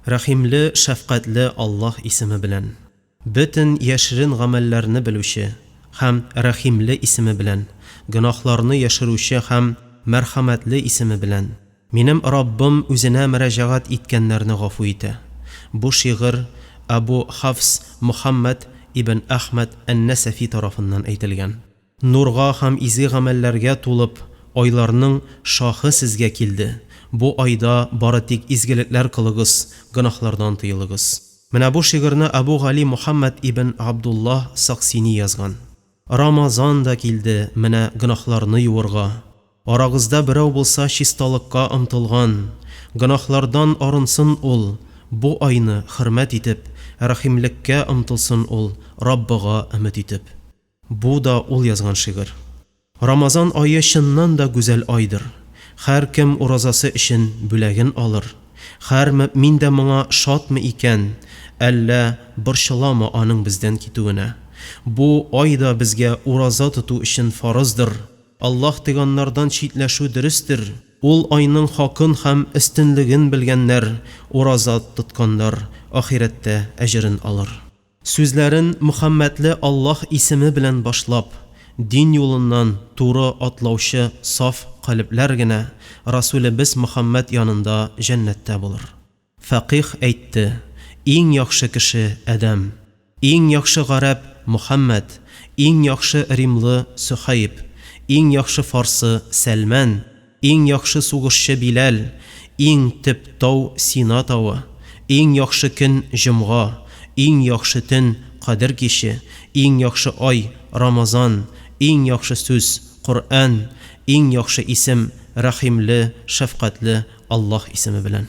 Рәхимле, шәфкатьле Аллаһ исеме белән. Бөтен яшерен гамәлләрне белүче һәм Рәхимле исеме белән, гөнаһларны яшерүче һәм Мәрхәмәтле исеме белән. Минем Раббым үзенә мөрәҗәгать иткәннәрне гафу итә. Бу шигырь Әбу Хафс Мөхәммәд ибн Әхмәд ән-Нәсәфи тарафыннан әйтелгән. Нурга һәм изге гамәлләргә тулып, айларның шаһы сезгә килде. Бу айда бары тик изгелекләр кылыгыз, гөнаһлардан тыелыгыз. Менә бу шигырьне Әбу Гали Мөхәммәд ибн Абдуллаһ Саксини язган. Рамазан да килде, менә гөнаһларны юырга. Арагызда берәү булса чисталыкка омтылган, гөнаһлардан арынсын ул, бу айны хөрмәт итеп, рәхимлеккә омтылсын ул, Раббыга өмет итеп. Бу да ул язган шигырь. Рамазан ае чыннан да гүзәл айдыр. Хәр кем уразасы өчен бүләген алыр. Хәр мөэмин дә моңа шатмы икән, әллә борчыламы аның бездән китүенә? Бу ай да безгә ураза тоту өчен фарыздыр. Аллаһ тыганнардан читләшү дөрестер. Ул айның хакын һәм өстенлеген белгәннәр, ураза тотканнар ахирәттә әҗерен алыр. Сүзләрен Мөхәммәдле Аллаһ исеме белән башлап, дин юлыннан туры атлаучы саф калебләр генә Расүлебез Мөхәммәд янында җәннәттә булыр. Фәкыйһ әйтте, Иң яхшы кеше, Адәм, иң яхшы гарәп, Мөхәммәд, иң яхшы римлы, Сөһәйб, иң яхшы фарсы, Сәлмән, Иң яхшы сугышчы Биләл, Иң төп тау Сина тавы, Иң яхшы көн җомга, Иң яхшы төн Кадер киче, Иң яхшы ай Рамазан, Иң яхшы сүз Коръән, Иң яхшы исем Рәхимле, шәфкатьле Аллаһ исеме белән.